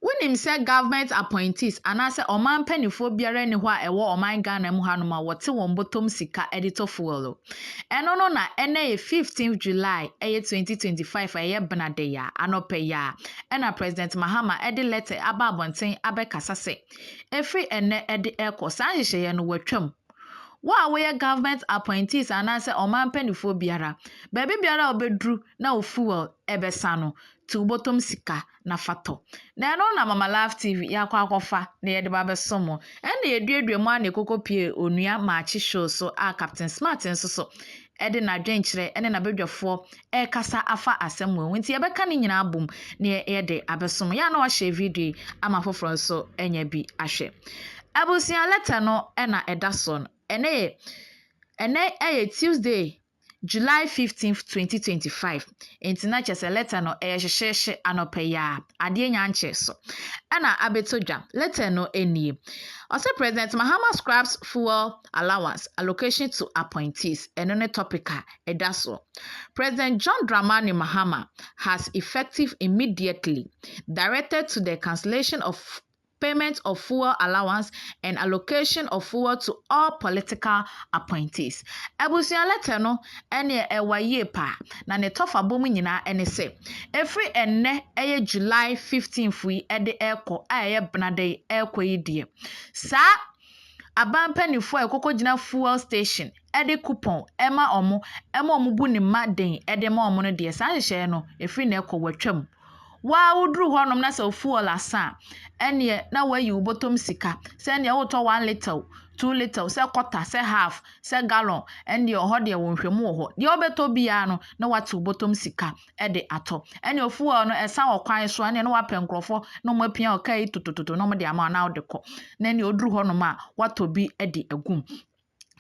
Wonim sɛ government appointees anaasɛ ɔman mpaninfoɔ biara nni hɔ a ɛwɔ ɔman Ghana mu hanom a wɔte wɔn bɔtɔm sika de tɔ fuel o. Ɛno no na ɛnnɛ yɛ 15th July ɛyɛ 2025 a ɛyɛ bena da yi a, anɔpa yi ara, ɛna President Mahama de letter aba abɔnten abɛkasa sɛ ɛfiri ɛnnɛ de rekɔ saa nhyehyɛeɛ no watwam. Wo a woyɛ government appointees anaasɛ ɔman mpaninfoɔ biara, baabi biara a wobɛduru na wo fuel bɛsa no, tu wo bɔtɔm sika. na fa tɔ. Na ɛno na Mama Love TV yɛakɔ akɔfa na yɛde ba bɛso mo. Ɛnna yɛduadua mu ara na yɛkɔkɔpue Onua Maakye Show so a Captain Smart nso so de n'adwenkyerɛ ne n'abadwafoɔ rekasa afa asɛm mu ho. Nti yɛbɛka ne nyinaa abom na yɛde abɛso mo. Yɛ a na wahyɛ video yi ama afoforɔ nso anya bi ahwɛ. Abusua lɛtɛ no na ɛda soɔ no. Ɛnɛ yɛ ɛnɛ yɛ Tuesday July fifteenth, twenty twenty five, ntsi na kyerɛ sɛ lɛtɛr no yɛ hyehyeehye anɔpa yi ara, adeɛ nnya nkyee so na abɛtɔ dwa. Lɛtɛr no nie, Ɔse President Mahama scraps fuel allowance allocation to appointees, ɛno ne topic a ɛda soɔ. President John Dramani Mahama has effective immediately directed to the cancellation of payment of fuel allowance and allocation of fuel to all political appointees. Abusua lɛtɛ no neɛ ɛwa yie paa, na ne tɔfabɔ mu nyinaa ne sɛ, ɛfiri ɛnnɛ ɛyɛ July 15th yi de rekɔ a ɛyɛ benada yi rekɔ yi deɛ, saa aban mpanimfoɔ a ɛkɔkɔgyina fuel station de coupon ma wɔn ma wɔbu ne mma den de ma wɔn no deɛ, saa nhyehyɛeɛ no, ɛfiri nnɛ rekɔ, wɔatwa mu. Wo ara woduru hɔnom na sɛ wo fuel asa a, ɛnneɛ na woayi wo bɔtɔm sika. Sɛ ɛnneɛ wotɔ one litre, two litre, sɛ quarter, sɛ half, sɛ gallon, ɛnneɛ ɛhɔ deɛ wo nhwɛmu wɔ hɔ. Deɛ wobɛtɔ biara no, na woate wo bɔtɔm sika de atɔ. Ɛnneɛ fuel no, ɛsa wɔ kwan so a, ɛnneɛ na woapɛ nkurɔfoɔ na wɔapia wo kaa yi totototo na wɔde ama wo na wode kɔ. Na ɛnneɛ woduru hɔnom a, woatɔ bi de agu mu.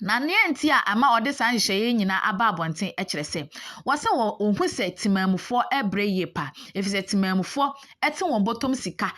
Na nea enti a ɛma wɔde saa nhyehyɛeɛ yi nyinaa aba abɔnten kyerɛ sɛ, wɔse wɔ wɔhu sɛ temaamufoɔ rebrɛ yie pa, ɛfiri sɛ temaamufoɔ te wɔn bɔtɔm sika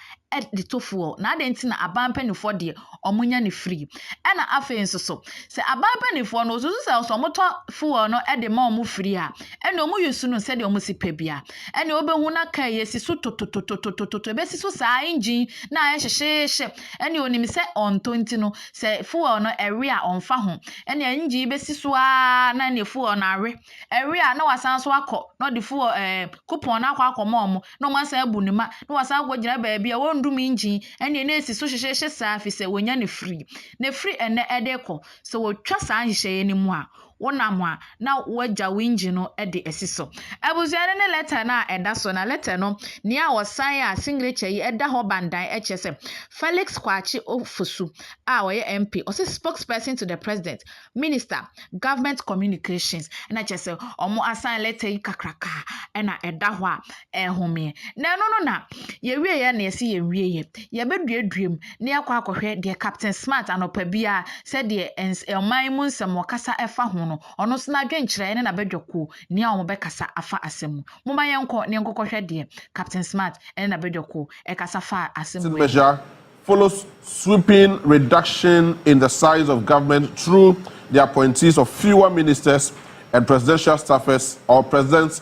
de to fuel, na adɛn nti na aban mpanimfoɔ deɛ wɔnya no free. Ɛna afei nso so, sɛ aban mpanimfoɔ no wɔsusu sɛ sɛ wɔtɔ fuel no de ma wɔn free a, ɛna wɔn use no sɛdeɛ wɔn si pɛ bia. Ɛna wɔbɛhu na kaa yi asi so tototototototo, ɛbɛsi so saa engine na ayɛ hyehyeehye, ɛna wɔnim sɛ wɔntɔ nti no, Sɛ fuel no ɛwe a ɔmfa ho ɛne engine yi bɛsi so aa na ɛne fuel no awe ɛwe a na wasan so akɔ na ɔde fuel ɛɛ coupon no akɔ akɔma ɔmo na ɔmo asan abu ne ma na wasan akɔ gyina baabi a wɔndum engine ɛne na esi so hyehyehyɛ saa fi sɛ wɔnya ne free na firi ɛnɛ ɛde kɔ sɛ wɔtwa saa nhyehyɛeɛ no mu a wonam a na woagya wo engine no de asi so. Abusua no ne lɛtɛ no a ɛda so, na lɛtɛ no nea wɔsan a singrekyɛ yi da hɔ bandan kyerɛ sɛ, Felix Kwakye Ofosu a ɔyɛ MP, ɔse Spokesperson to the President, Minister, Government Communications, na kyerɛ sɛ wɔasan lɛtɛ yi kakraka na ɛda hɔ a ɛnhomeɛ. Na ɛno no na yɛwieɛ na yɛsi yɛn wieɛ. Yɛbɛduadua mu na yɛakɔ akɔhwɛ deɛ Captain Smart anɔpa biara sɛdeɛ ɛns ɔman mu nsɛm wɔkasa ɛfa ho no, ɔno nso n'adwenkyerɛ ne n'abadwakuo nea wɔbɛkasa afa asɛm mu. Momma yɛnkɔ na yɛnkɔkɔhwɛ deɛ Captain Smart ne n'abadwakuo ɛkasa faa asɛm mu ɛfa ho. measure follows sweeping reduction in the size of government through the appointees of fewer ministers and presidential staffers or president's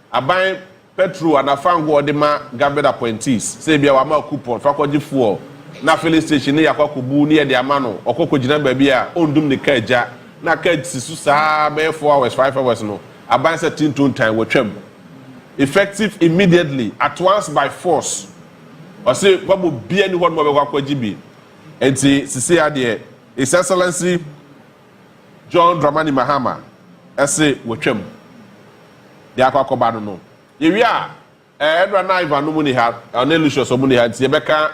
Aban pɛtro adafa nko a wɔde ma government appointees, sɛ ebia wama wo coupon, fa kɔgye fuel na filling station no yɛ akɔ akɔbu ne yɛde ama no, ɔkɔ kɔgyina baabi a ɔndum ne car gya na car si so saa ara bɛyɛ four hours, five hours no, aban sɛ te ntontan, wɔatwam. Effective immediately, at once by force. Ɔse wɔma obiara nni hɔ nom a ɔbɛkɔ akɔgye bi. Nti sesei ara deɛ His Excellency, John Dramani Mahama se wɔtwam de akɔ akɔba no no. Yɛwie a, eh, ɛnora na Ivan no mu ni ha, ɔne Lucius ɔmo ni ha, nti yɛbɛka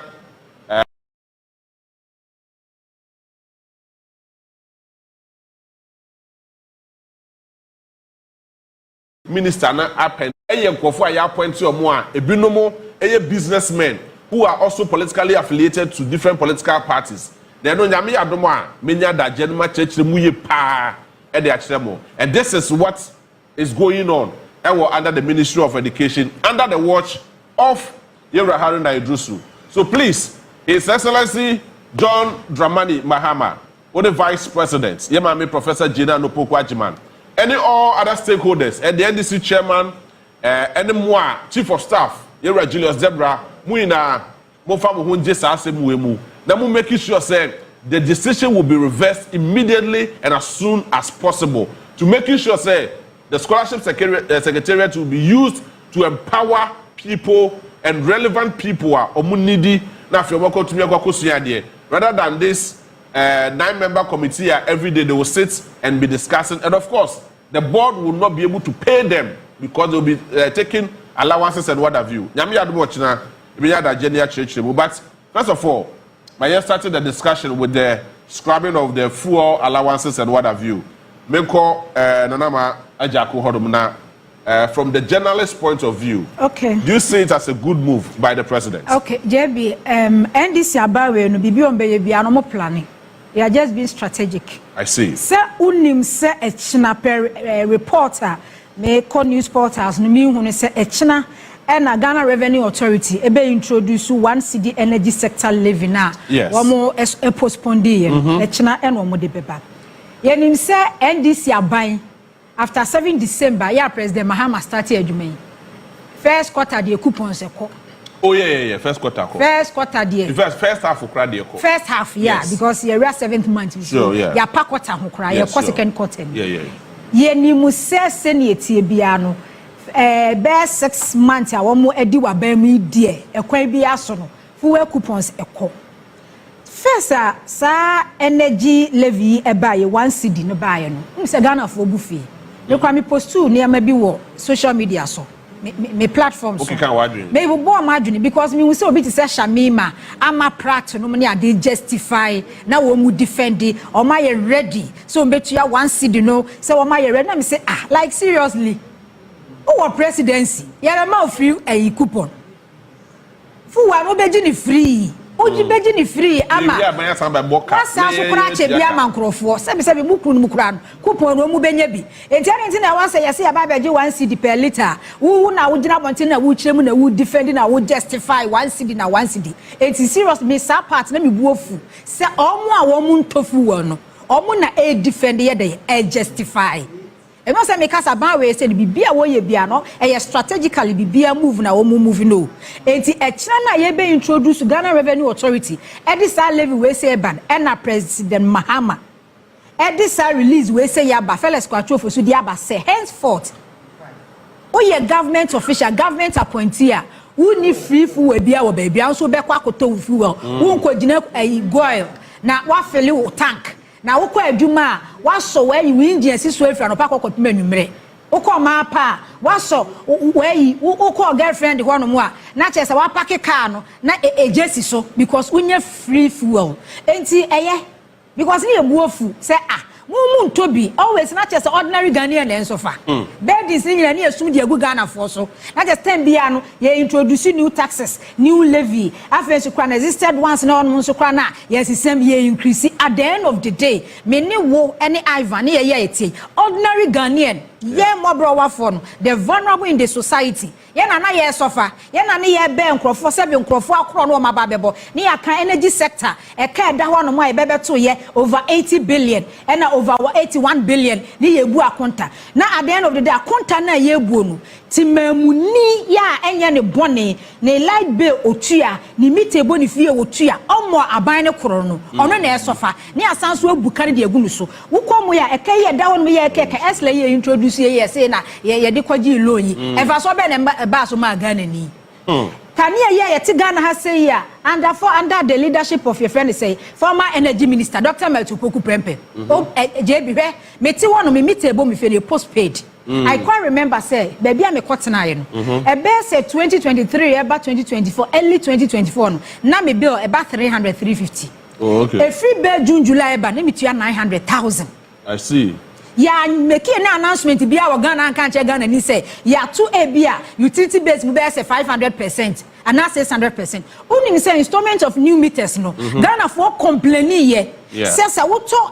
eh, minister no apɛ yɛ nkurɔfoɔ a yɛ appoint wɔn a ebinom yɛ business men who are also politically affiliated to different political parties. Na ɛno Nyame yɛ adom a mɛnya adagyeɛ no makyerɛkyerɛ mu yie paa de akyerɛ mo. And this is what is going on wɔ under the ministry of education under the watch of Yɛwura Haruna Iddrisu. So please His Excellency John Dramani Mahama, Wo ne Vice President, yɛn Maame Professor Jane Ann Opoku Agyeman, ɛne all other stakeholders, ɛne NDC Chairman, ɛne mo a Chief of Staff, yɛn Wura Julius Gyabra, mo nyinaa momfa mo ho ngye saa asɛm wei mu na mo make sure sɛ the decision will be reversed immediately and as soon as possible to making sure sɛ the Scholarship Secretariat will be used to empower people and relevant people a wɔn needy na afei wɔn akɔtumi akɔ akɔsua adeɛ rather than this eh, nine member committee a every day they will sit and be discussing and of course the board will not be able to pay them because they will be uh, taking allowances and what have you nyame yɛ adom ɔkyena ebɛnya adagye ne akyerɛkyerɛ mu but first of all ma yɛ started the discussion with the scrubbing of the fuel allowances and what have you menkɔ uh, nanama agyako hɔnom na Eh, from the journalist point of view, okay. do you see it as a good move by the president? Okay, JB, um, NDC abawe no bibi on beye bia no mo planning. They are just being strategic. I see. Sɛ unim sɛ ɛkyina pɛ eh, reporter me kɔ news portals no mi hu ne sɛ ɛkyina ɛna Ghana Revenue Authority ebe introduce one city energy sector levy na yes. wɔn postpone di yɛ ɛkyina ɛna wɔn de bɛba. Yɛnim sɛ NDC aban. After seven December yɛ a President Mahama starte adwuma yi. First quarter deɛ coupons ɛkɔ. Oh yeah yeah yeah first quarter kɔ. First quarter deɛ. Infact first half koraa deɛ kɔ. First half yeah yes. because yɛwura seventh month nti sure, yeah. yɛapa quarter ho koraa yes, yɛkɔ sure. second quarter mu. Yeah, yeah. Yɛnim sɛ sɛnea ɛtie biara no eh, bɛyɛ six month a wɔn adi w'aban mu yi deɛ ɛkwan biara so no fuel coupons ɛkɔ. First a saa energy levy yi ɛbaeɛ one cedi no baeɛ no wonim sɛ Ghanafoɔ bu fui me koraa me postuu nneɛma bi wɔ social media so me me me platform so Wokeka w'adwene. me bobɔɔ m'adwene because mehu sɛ obi te sɛ Shamima ama Pratt nom ne adeɛ justify na wɔn mu defend wɔn ayɛ ready sɛ wɔn bɛtua one cedi no sɛ wɔn ayɛ ready na me se ah like seriously wowɔ presidency yɛbɛma wo free ayi coupon. Fuw a wobegye no firii, wogye begye no firii ama Lewi aban asan abɛbɔ ka wɔasan ne so koraa akyɛ bi tuaka. ama nkurɔfoɔ. Sɛbisɛbi, mo kunu no mu koraa no, kupɔn na wɔn bɛnya bi. Enti adɛn nti na ɛwɔ sɛ yɛse yɛba abɛgye one cedi per litre a? Wo wo na wogyina abɔnten na wokyerɛ mu na wo defend na wo justify one cedi na one cedi. Enti serious me saa part na me bo afu sɛ wɔn a wɔn ntɔ fuel no wɔn na ɛredefend yɛ dɛn? Ɛrejustify. Ebɛn sɛ me kasa ban wei sɛ no bibia wɔ yɛ bia no ɛyɛ strategically bibia move na wɔn move no ɛnti ɛkyena no a yɛ bɛ introduce Ghana revenue authority ɛde saa levy wei sɛ ɛba no ɛna president Mahama ɛde saa release wei sɛ yi aba Felix Kwatro Ofo so de aba sɛ henceforth wo yɛ government official government appointee a wo nni free fuel bia wɔ baabia wo nso wobɛkɔ akɔtɔ wo fuel wo nkɔ gyina ɛyi goil na wafele wo tank Na wokɔ adwuma a, woasɔ w'ayi wo engine asi so afiri anɔpa kɔ kɔpem anwumerɛ. Wokɔ ɔmaa pa a, woasɔ w'ayi, wokɔ wo girlfriend hɔ nom a, na kyerɛ sɛ woapake car no na egya si so because wonnya free fuel. Enti ɛyɛ because ne yɛ bu afu sɛ ah, mo mo ntɔ bi always na kyerɛ sɛ ordinary Ghanaian na nso fa burdens no nyinaa ne yɛ sum de agu Ghanafoɔ so. Na kyerɛ sɛ time biara no yɛ introduce new taxes New Levy, afei nso koraa no existed once na hɔnom nso koraa no a yɛsesam, yɛ increase. At the end of the day, me ne wo ne Ivan ne yɛyɛ a ɛteɛ yi, ordinary Ghanaian, yɛn mmɔborɔwafoɔ no, the vulnerable in the society, yɛn na na yɛresɔfa, yɛn na ne yɛrebɛn nkorɔfoɔ sɛ bi nkorɔfoɔ akorɔ na wɔaba abɛbɔ, ne yɛaka energy sector, ɛka a ɛda hɔnom a yɛbɛbɛtoeɛ over 80 billion, ɛna over 81 billion ne yɛrebu akonta. Na at the end of the day, akonta no a yɛrebuo no, Temammuni yi a ɛnyɛ ne bɔne, ne light bill ɔtua, ne meter bɔ ne fie ɔtua, ɔmmɔɔ aban no koro no, ɔno na ɛsɔfa, ne asan nso abu kar de agu no so. Wokɔ mu a, ɛka yi a ɛda hɔ nom yɛ ɛka ɛka ɛsla yi a yɛintroduce yɛ yi a ɛsee na yɛde kɔgyee loan yi, mfasoɔ bɛn na ɛbaa so maa Ghanani? Kanea yi a yɛte Ghana ha sei yi a, under for under the leadership of yɛfrɛ no sɛn, former energy minister, Doctor Myrtle Poku Prempeh, JB, hwɛ, mete hɔ nom, me meter ɛbɔ me fie no yɛ postpaid. Mm. I quite remember sɛ baabi a mekɔ tenaeɛ no mhm. ɛbɛyɛ sɛ 2023 ɛba 2024 early 2024 no na me bill ɛba 300 350 oh, okay. ɛfiri bɛɛ June July ɛba na metua 900000 I see yɛamɛkie ne announcement bi a wɔ ghana anka nkyɛ ghana ni sɛ yɛato a bi a utility base mu bɛyɛ sɛ 500 percent anaa 600 percent wonim sɛ installment of new meters no mm -hmm. ghanafoɔ complaini yɛ sɛ sɛ wotɔ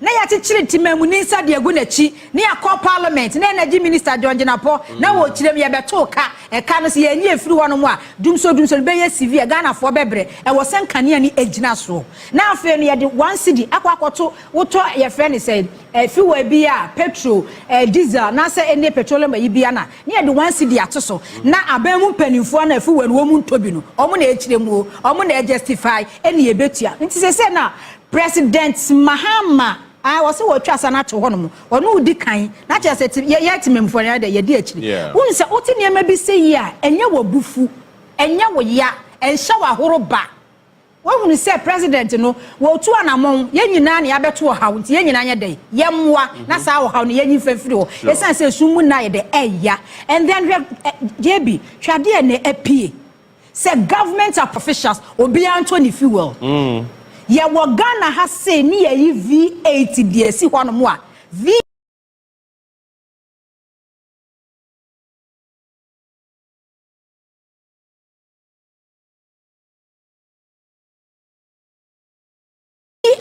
na yɛakyekyere Ntimanmuni nsa de agu n'akyi, na yɛakɔ Parliament, na Energy Minister John Jinapor, na wɔ kyire mu yɛbɛtoo ka, ɛka no sɛ yɛanyi afiri hɔnom a, dumsor dumsor no bɛyɛ severe, Ghanafoɔ bɛbrɛ, ɛwɔ sɛ nkanea no gyina soɔ. Na afei no yɛde one cedi akɔ akɔto, wotɔ yɛfrɛ no sɛn, eh, fuel bi a, petrol, eh, diesel, anaasɛ any petroleum ayi bi a na, na yɛde one cedi ato so, na aban mu mpanimfoɔ a na fuel no wɔn ntɔ bi no, wɔn na ɛkyerɛ mu o, wɔn na ɛjustify, ɛne yɛbɛtua. Nti seesei no a, President Mahama a wɔse wɔatwa asa no ato hɔ nom, ɔno odi kan, na kyerɛ sɛ te, yɛ, yɛ atemamufoɔ no ara dɛ, yɛdi akyiri. Yeah. Wohu sɛ wote nneɛma bi sɛ yi a, ɛnyɛ wo bo fu, ɛnyɛ wo ya, ɛnhyɛ wo ahoro ba. Woahunu sɛ President no, wɔretu anamɔn, yɛn nyinaa na yɛabɛto ɔhaw, nti yɛn nyinaa nyɛ dɛn? Yɛmmoa na saa ɔhaw no yɛnyi mfa mfiri hɔ, Sure. ɛsiane sɛ esum mu nna ayɛ dɛ, ɛya. And then hwɛ, eh, JB, hwɛ adeɛ a ɛnnɛ apue. Sɛ government apofficials obiaa ntɔ ne fuel. Yɛwɔ Ghana ha sei ne yɛyi V8 de asi hɔ nom a V.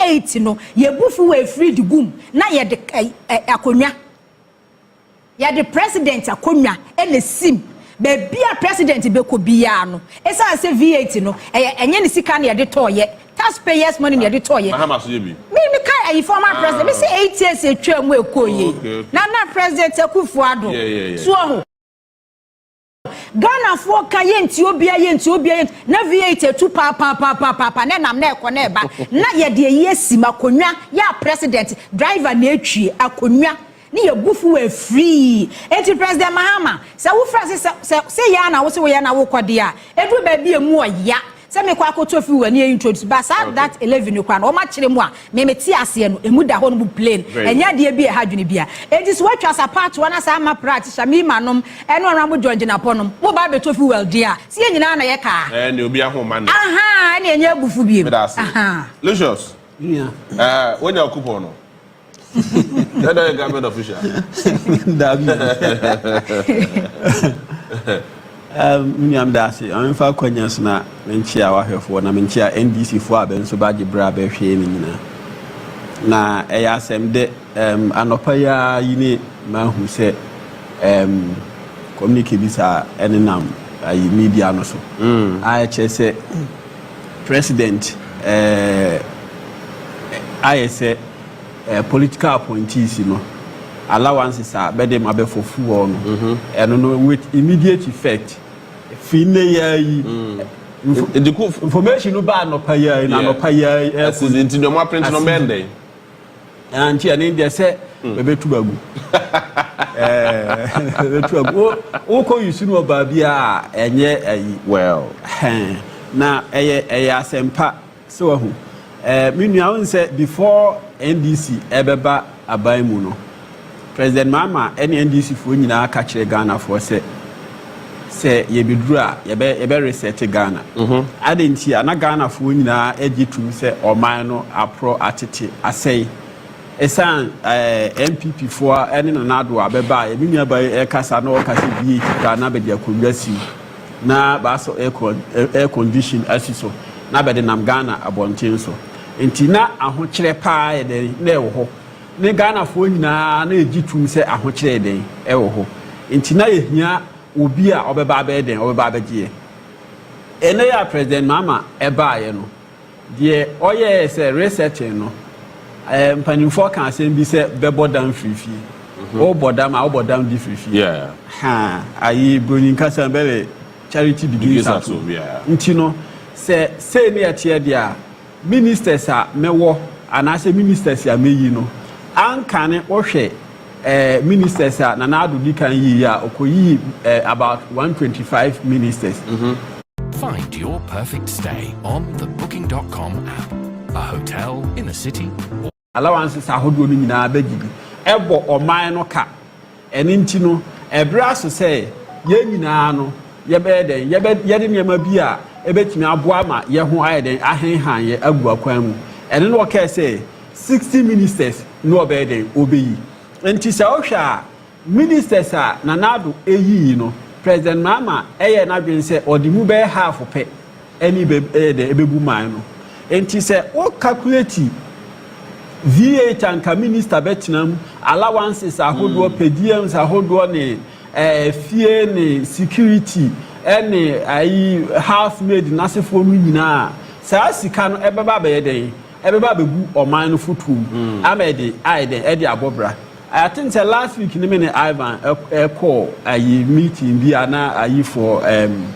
Eight no, yɛ bu fuw afiri de gum na yɛ de akonwa, yɛ de president akonwa na esim baabi a president bɛ kɔ biara no. Esan sɛ V8 no, ɛyɛ ɛnyɛ ne sika na yɛ de tɔɔ yɛ, tax payers money na yɛ de tɔɔ yɛ. Mahama so yɛ bi. Me me ka ɛyi former president, me se eight years etwa mu ɛkɔ yɛ yi, Nana president Akuffo Addo, so ɔho. Ghanafoɔ ka yɛntie obiara yɛntie obiara yɛntie na V8 atu paapaapaapaapa na ɛnam na ɛkɔ na ɛba na yɛde ayi asi mu akonnwa yɛ a president driver na atwie akonnwa ne yɛ bu fuwa firii enti President Mahama sɛ wofrɛ se sɛ sɛ sɛ yɛ a na wo se woyɛ na wokɔ deɛ a ɛduru baabi a ɛmu ɔya Sɛ mekɔ akɔtɔ firi wani introduce but saa that eleven no koraa no wɔn akyerɛ mu a me me te aseɛ no ɛmu da hɔ nom plain ɛnyɛ adeɛ bi a ɛha dwene bia ɛnti sɛ watwa sa paatoa na saa ama praa te shamima nom ɛne honourable John Jinapɔ nom mo ba abɛtɔ firi well deɛ a sɛ yɛn nyinaa na yɛ kaa Ɛɛ nea obi ahoma no. ahaa ɛne ɛnyɛ abufu biem Meda ase. ahaa. Lucius, eh, woanya wo coupon no? That that government official. Dabi. Miniam daase, ɔmfa kwanya so na menkyia wahwɛfoɔ na menkyia NDC foɔ a bɛ nso bagye berɛ a bɛhwɛɛ ne nyinaa. Na ɛyɛ asɛm dɛ um, anɔpa yi ara yi ne mahu sɛ um, communique bi saa ɛne nam ayi media no so. Mm. A ɛkyerɛ sɛ president uh, ayɛ sɛ Eh, political appointees no, allowances a bɛde ma bɛfɔfuɔ no, ɛno no with immediate effect, firi nnɛ yi ara yi, info, Nti ko information no baa anɔpa yi ara yi, na Yeah. anɔpa yi ara yi, ɛkɔ Asidi nti deɛ ɔmo aprente no bɛyɛ dɛn? Ah, nti ɛne deɛ sɛ bɛbɛtu agu. Eh, bɛbɛtu agu. Wo, wokɔ use no wɔ baabi a, ɛnyɛ ayi. Well. Hɛn, na ɛyɛ, ɛyɛ asɛmpa. So wahu? Eh, me nua, wohu sɛ before NDC ɛbɛba aban mu no, President Mahama ɛne NDC foɔ nyinaa ka kyerɛ Ghana foɔ sɛ, sɛ yɛbɛduru a yɛbɛ yɛbɛ resɛte Ghana. Mm -hmm. Adɛn nti a na Ghana foɔ nyinaa ɛgye tum sɛ ɔman no aporɔ atete asɛe. Ɛsan eh, NPP foɔ ɛne Nana Addo a bɛba a yɛme nua ba ɛkasa na ɔka sɛ VH Ghana bɛde akonnwa siw. na bɛasɔ air condition asi so na bɛdenam Ghana abɔnten so. Enti na ahokyerɛ paa yɛ dɛn na ɛwɔ hɔ. Ne Ghanafoɔ nyinaa na yɛgye tom sɛ ahokyerɛ yɛ dɛn ɛwɔ hɔ. Enti na yɛhia obi a ɔbɛba abɛyɛ dɛn, ɔbɛba abɛgye yɛn. Ɛnnɛ yi a President Mahama ɛbaeɛ no, Deɛ ɔyɛɛ sɛ researching no, ɛɛ mpanimfoɔ ka asɛm bi sɛ bɛbɔ dam firi fie. Mhm. Wobɔ dam a, wobɔ dam de firi fie. Yeah. Ha, ayi broni nkasa bɛbɛ charity begins at home. Yeah. Nti no, sɛ sei ne ɛteɛ deɛ a, ministers a mɛwɔ anaasɛ ministers a mɛyi no, ankane wohwɛ ministers a Nana Addo di kan yii a okoyii about 125 ministers. Mm-hmm. Find your perfect stay on the Booking.com app. A hotel in a city. Or... Allowances ahodoɔ no nyinaa bɛgye bi ɛbɔ ɔman no ka ɛne nti no ɛbrɛ aso sɛ yɛn nyinaa no yɛbɛyɛ dɛn yɛde nneɛma bi a ɛbɛtumi aboa ma yɛn ho ayɛ dɛn ahenhan yɛ agu akwan mu ɛne no ɔkɛɛ sɛ 60 ministers no ɔbɛyɛ dɛn ɔbɛyi nti sɛ wohwɛ a ministers a Nana Addo yii no President Mahama yɛɛ n'adwene sɛ ɔde mu bɛyɛ half pɛ ɛne bɛyɛ dɛn ɛbɛbu man no nti sɛ wo calculate VAT a nka minister bɛtena mu allowances ahodoɔ per diems ahodoɔ ne ɛɛ fie ne security ɛne ayi house maid n'asefoɔ no nyinaa saa sika no ɛbɛba abɛyɛ dɛn ɛbɛba abɛgu ɔman no fotuo mu ama ɛde ayɛ dɛn ɛde abɔ bra I think sɛ last week ne me ne Ivan ɛkɔɔ ayi meeting bi a na ayi for um,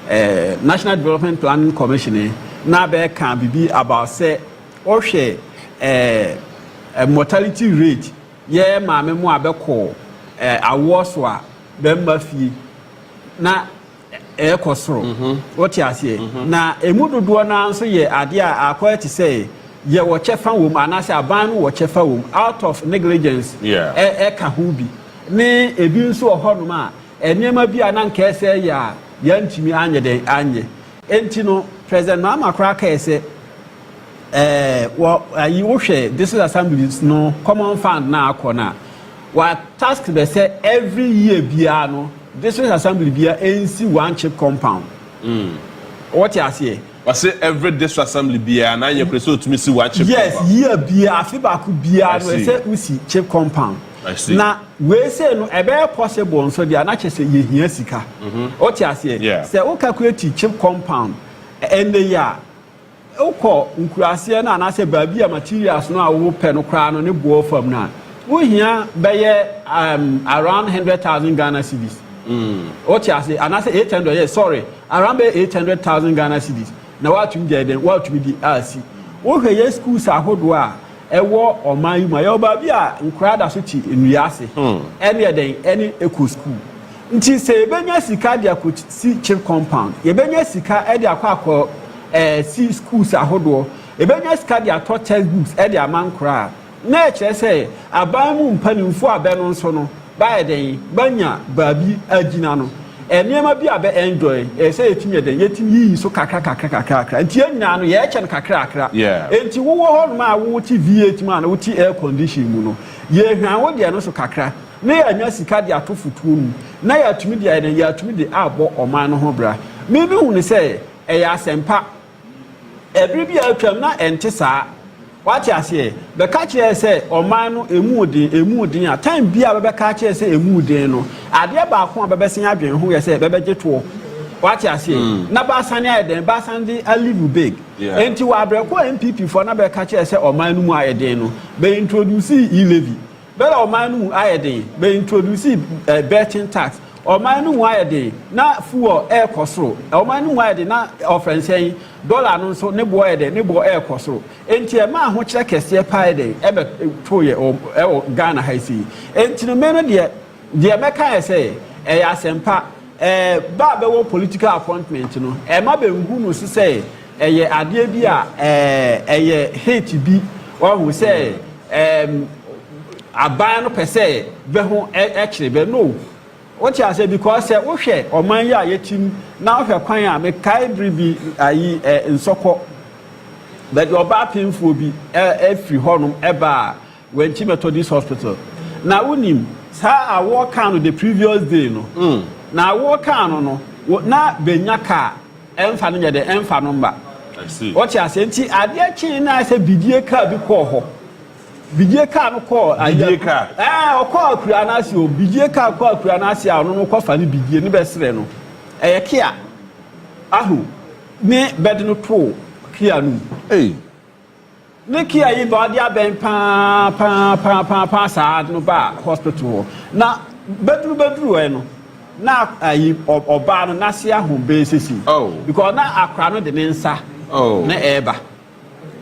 uh, National Development Planning Commission eh, na bɛka biribi about sɛ ɔhwɛ uh, mortality rate yɛ maame mu a bɛkɔ uh, awoɔ so a bɛmma fie na ɛrekɔ soro. Mhm. Wote aseɛ? Mhm. Na ɛmu dodoɔ no ara nso yɛ adeɛ a akɔyɛ te sɛ yɛwɔ kyɛfa wom anaasɛ aban no wɔ kyɛfa wom out of negligence ɛka ho bi ne ebi nso wɔ hɔnom a nneɛma bi a na nka ɛsɛ yɛ a yɛantumi anyɛ dɛn anyɛ. Enti no, President Mahama koraa kae sɛ Ɛɛ, wɔ ayi wohwɛ district assemblies no common fund na akɔ no a, wa task bɛ sɛ every year biara no district assembly biara ɛnsi one chip compound. Mm. Wɔte aseɛ? Wɔse every district assembly biara na anyɛ kura sɛ otumi si one chip yes, compound. Yes, year biara afe baako biara no ɛsɛ wosi chip compound. I see. Na wei sei no ɛbɛyɛ possible nso deɛ na kyɛ sɛ yɛhia sika. Mm -hmm. Wɔte aseɛ? Yeah. Sɛ wo calculate chip compound ɛnɛ yi a Wokɔ nkuraseɛ no anaasɛ baabi a materials no a wopɛ no koraa no ne boɔ fam no a, wohia bɛyɛ um, around hundred thousand Ghana cedis. Mm. Wote ase anaasɛ eight hundred yɛ sorry around bɛyɛ eight hundred thousand Ghana cedis na woatumi deɛ den woatumi de asi. Wohwɛ yɛ schools ahodoɔ a Ɛwɔ ɔman yi mu a, yɛwɔ baabi a nkwadaa da so te nnua ase ne ɛdɛn ne ɛkɔ sukuu. Nti sɛ yɛbɛnya sika de akɔ si chip compound, yɛbɛnya sika de akɔ akɔ si schools ahodoɔ, yɛbɛnya sika de atɔ test books de ama nkwadaa a, na ɛkyerɛ sɛ aban mu mpanimfoɔ a bɛ no nso no, Bɛayɛ dɛn bɛanya baabi agyina no, nneɛma bi a bɛ enjoy, ɛsɛ sɛ yetumi yɛ dɛn? Yetumi yiyi so kakra kakra kakra kakra. Enti yɛn nyinaa no, yɛkyɛ no kakra kakra. Enti wowɔ hɔnom a wote V8 mu anaa wote air condition mu no, yehwian wo deɛ no so kakra na yɛanya sika de ato fotuo mu na yɛatumi de ayɛ dɛn? Yɛatumi de abɔ ɔman no ho bra. Me, mehu no sɛ ɛyɛ asɛmpa. Bere bi a atwam na ɛnte saa. Wate aseɛ? Bɛka kyerɛɛ sɛ ɔman no emu den, emu den a, time bi a bɛbɛka akyerɛ sɛ emu den no, adeɛ baako a bɛbɛsen adwene ho yɛ sɛ bɛbɛgye toɔ. Wate aseɛ? Na bɛasane ayɛ dɛn? Bɛasane de a live big. Enti wɔ abrɛko a NPP foɔ na bɛka kyerɛɛ sɛ ɔman no mu ayɛ den no, bɛ introducee e-levy. Bere a ɔman no mu ayɛ den, bɛintroduusii birthing tax. Ɔman no mu ayɛ den, na fuel rekɔ soro. Ɔman no mu ayɛ den, na ɔfrɛnhyɛn, dɔla no nso, ne bo yɛ dɛn? Ne bo rekɔ soro. Enti ɛmaa ahokyerɛ kɛseɛ paa yɛ dɛn? Ɛbɛtoeɛ wɔ Ghana ha yi sei. Enti no, me no deɛ, deɛ mɛka yɛ sɛ, ɛyɛ asɛmpa. Ɛɛ, ba a bɛwɔ political appointment no, ɛmma bɛnhu no so sɛ Ɛyɛ adeɛ bi a ɛyɛ hit bi wahu sɛ aban no pɛ sɛ bɛ ho kyere bɛ no wote aseɛ because sɛ wohwɛ ɔman yi a yɛtim na wohwɛ kwan a mekae bere bi ayi nsɔkɔ bɛde ɔba apemfoɔ bi ɛfiri hɔnom ɛba a Wanti Methodist Hospital na wonim saa awoɔ kaa no the previous day no na awoɔ kaa no no na bɛnya kaa Ɛmfa no nyɛ dɛ, ɛmfa no mma. Wɔte aseɛ nti adeɛ kyee no ayɛ sɛ bidie kaa bi kɔɔ hɔ. Bidie kaa no kɔɔ ayɛ. Ɛɛ ɔkɔɔ akura no ase o. Bidie kaa kɔɔ akura no ase a ɔno no kɔfa ne bidie ne bɛsrɛ no. Ɛyɛ kea. Ahu ne bɛde no too kea no mu. Ne kea yi ba ɔde abɛn paa paa paa paa paa saa no baa hospital hɔ na bɛduru bɛduru ɛ no na ayi ɔbaa no n'ase ahom bɛyɛ sisi oh. because na akora no de ne nsa oh. na ɛreba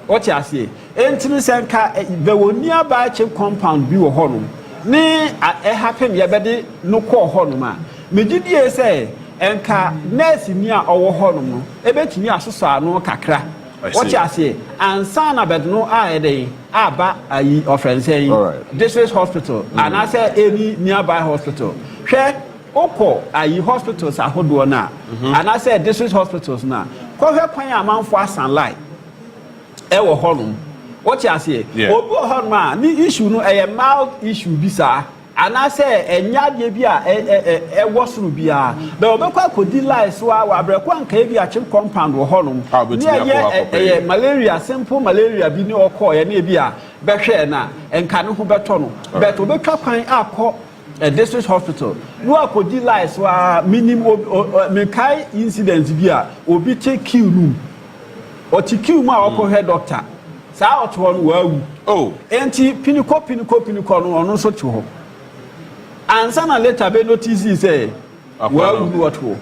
ɔte aseɛ enti no sɛ nka bɛwɔ nuabaa kye compound bi wɔ hɔ no ne ɛha pem yɛbɛde no kɔɔ hɔ nom a megye die sɛ nka nurse ni a ɔwɔ hɔ nom no ɛbɛtumi asosɔ ano kakra Wɔte aseɛ ansa na but no ayɛ dɛn aba ayi ɔfrɛ no sɛn district hospital mm. anaasɛ any nearby hospital hwɛ wokɔ ayi hospitals ahodoɔ no a mhm. anaasɛ district hospitals no a kɔhwɛ kwan a amanfoɔ asan lai ɛwɔ hɔnom wɔte aseɛ obi wɔ hɔnom a ne issue no ɛyɛ mild issue bi saa Anaasɛ ɛnyɛ adeɛ bi a ɛwɔ soro biara. But wɔbɛkɔ akɔdi line so ara wɔ abrɛko a anka ebia chip compound wɔ hɔnom ne ɛyɛ ɛyɛ malaria simple malaria bi ne ɔkɔeɛ ne ebia bɛhwɛɛ no a nka ne ho bɛtɔ no but wɔbɛtwa kwan akɔ district hospital na wakɔdi line so ara menim mekae incident bi a obi te queue no mu ɔte queue mu a ɔkɔhwɛ doctor Saa ɔtoɔ no wawu. Oh. Enti pinikɔ pinikɔ pinikɔ no ɔno nso te hɔ. Ansa na later bɛ notice sɛ wawu no ɔtoɔ.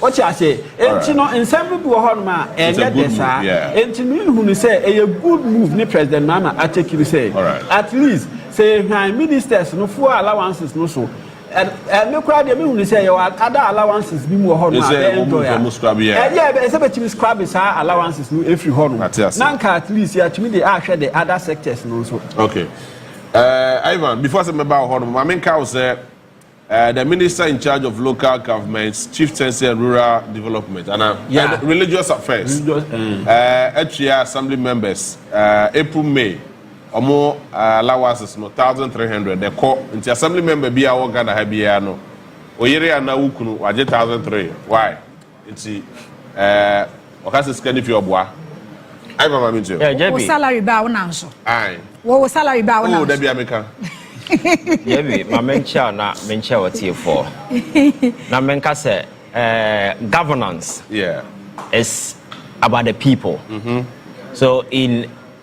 Ɔte aseɛ. Enti no nsɛm no bi wɔ hɔ nom a ɛnyɛ dɛ saa. Enti no nhunu sɛ ɛyɛ good move ne President Mahama ateki no sɛ at least sɛ yɛhwan ministers no full allowances no so Ɛ me koraa deɛ mehu ne sɛ yɛwɔ ada allowances bi mu wɔ hɔ no a bɛyɛ enjoy a ɛdeɛ ɛbɛyɛ sɛ bɛtumi scrab saa allowances no ɛfiri hɔ no na nka at least yɛatumi de ahwɛ de other sectors no nso. Okay. Uh, Ivan, before sɛ mɛba wɔ hɔ no ma menka wo sɛ Uh, the minister in charge of local governments, chieftaincy and rural development, and uh, yeah. religious affairs, religious, mm. uh, actually assembly members, uh, April, May, Ɔmo allowances no thousand three hundred ɛkɔ nti assembly member biaa ɔwɔ Ghana ha biaa no oyere anaa wokunu wagye thousand three why nti ɛɛ ɔka sɛ sika no fi ɔboa ayi mama me nti o. Wo salary baa wo nan so. Ayi. Wo wo salary baa wo nan so. Oh dabi a meka. Yɛbi ma me nkyɛ a na me nkyɛ ɔtiefoɔ na me nka sɛ ɛɛ governance yeah. is about the people mm -hmm. so in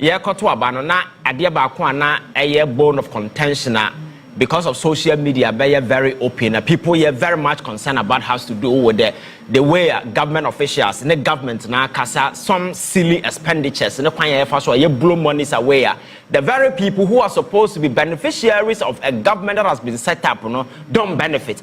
Yɛrekɔto aba no, na adeɛ baako a na ɛyɛ bone of contention a because of social media bɛyɛ very open na people yɛ very much concerned about has to do with the the way a government officials ne government no akasa some silly expenditures ne kwan a yɛfa so a yɛ blow monies away a the very people who are supposed to be beneficiaries of a government that has been set up no don't benefit.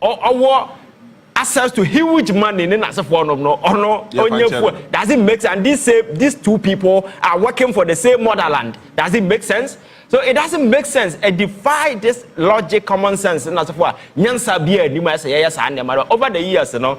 ɔwɔ access to huge money ne n'asefoɔ nom no ɔno onye fuel does it make sense and these say these two people are working for the same motherland does it make sense so it doesn't make sense it defy this logic common sense n'asefoɔ a nyansa bi a anim a ɛsɛ yɛyɛ saa nneɛma no over the years no.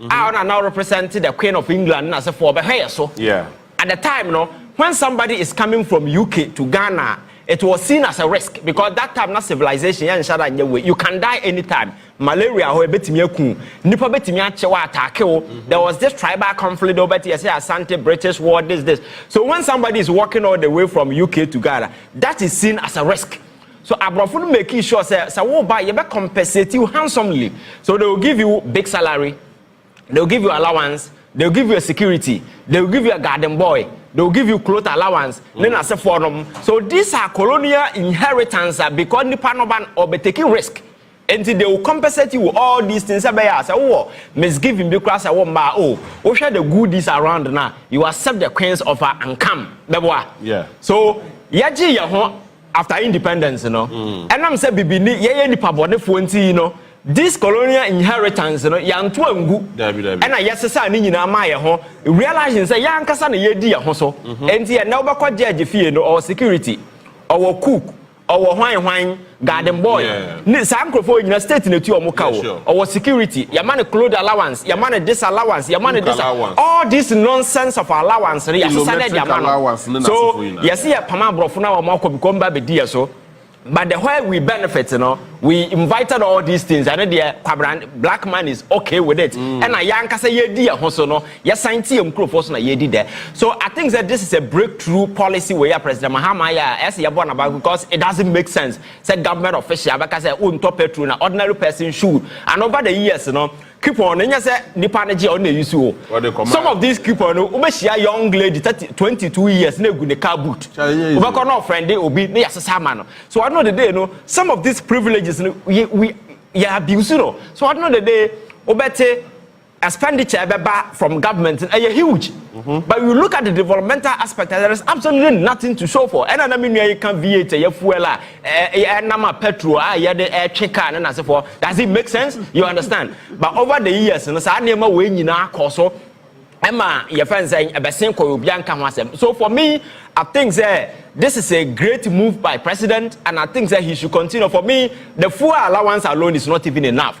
a ɔna na ɔrepresent the Queen of England ne n'asefoɔ ɔbɛhwɛ yɛ so. At the time no, when somebody is coming from UK to Ghana, it was seen as a risk because that time na civilization yɛ nhyɛ da nyɛ wei. You can die anytime. Malaria hɔ ebetumi aku wo. Nipa betumi akye wo, ataake wo. There was this tribal conflict though, but yɛsɛ Asante, British war, this, this. So when somebody is walking all the way from UK to Ghana, that is seen as a risk. So abrɔfo no makii sure sɛ sɛ wo ba a yɛbɛ compensate wo handsomely so they will give you big salary they will give you allowance they will give you a security they will give you a garden boy they will give you cloth allowance ne na se fo nom so these are colonial inheritance a because nipa no ba no ɔbɛ taking risk enti they will compensate you all these things sɛ bɛyɛ a sɛ wowɔ misgiving bi koraa sɛ wo mma a oh wohwɛ the goodies around na you accept the queen's offer and come bɛboa yeah so yɛgye yɛ ho After independence no, ɛnam sɛ bibini yɛyɛ nnipa bɔnefoɔ nti no, this colonial inheritance no yɛanto angu ɛna yɛsesaa ne nyinaa maa yɛn ho, realising sɛ yɛn ankasa na yɛredi yɛn ho so. Ɛnti ɛnnɛ wobɛkɔ judge fie no, ɔwɔ security, ɔwɔ cook, ɔwɔ hwan hwan, garden boy, Ne saa nkurɔfoɔ nyina state na ɛtua wɔn ka o. Ɔwɔ security, yɛma no clothe allowance, yɛma no this allowance, yɛma no this allowance. All this nonsense of allowance no yɛasesa no de ama no. So yɛse yɛpam aborɔfo no a wɔn akɔ bikɔ mba bɛdi yɛ so but the where we benefit no we invited all these things ɛno deɛ kwabran black man is okay with it mm. ɛna mm. yɛankasa yɛdi yɛ ho so no yɛsan te yɛn nkurɔfoɔ so na yɛdi dɛ so i think that this is a breakthrough policy wei a president mahama yɛ a ɛsɛ yɛbɔ naba because it doesn't make sense sɛ government official bɛka sɛ wontɔ petrol na ordinary person should and over the years no coupon no nyɛ sɛ nipa no gye ɔno na eyi so o some of these coupon no wobɛhyia young lady thirty twenty two years na egu ne car boot wobɛkɔ na ɔfrɛnde obi na yɛasesa ama no so ɔno de de no some of these privileges no we yɛ abuse no so ɔno de de wobɛte. expenditure a ɛbɛba from government no ɛyɛ huge but you look at the developmental aspect and there is absolutely nothing to show for ɛna na me nua yi ka v8 ɛyɛ fuel a ɛnam a petrol a yɛde ɛtwe car no n'asefoɔ does it make sense you understand but over the years no saa nneɛma wei nyinaa kɔ so ɛma yɛfɛn sɛ ɛbɛsen kɔ obi anka ho asɛm so for me I think sɛ this is a great move by president and I think sɛ he should continue for me the fuel allowance alone is not even enough.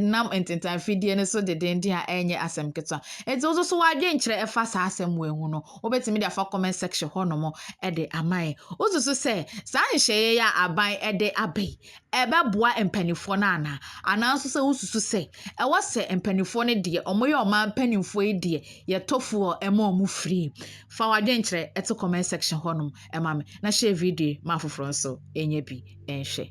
nam ntentanfidie no so dendeenden a ɛnyɛ asɛm ketewa nti wo nso w'adwenkyerɛ ɛfa saa asɛm wei ho no wobɛtumi de afa comment section hɔnom de ama yɛn wosusu sɛ saa nhyɛeɛ yi a aban de aba yi ɛbɛboa mpanimfoɔ no anaa anaa nso sɛ wosusu sɛ ɛwɔ sɛ mpanimfoɔ no deɛ wɔyɛ ɔman mpanimfoɔ yi deɛ yɛtɔfoɔ ɛma wɔn firi fa w'adwenkyerɛ ɛto comment section hɔnom ɛma me na hyɛ video ma afoforɔ nso ɛnyɛ bi ɛnhwɛ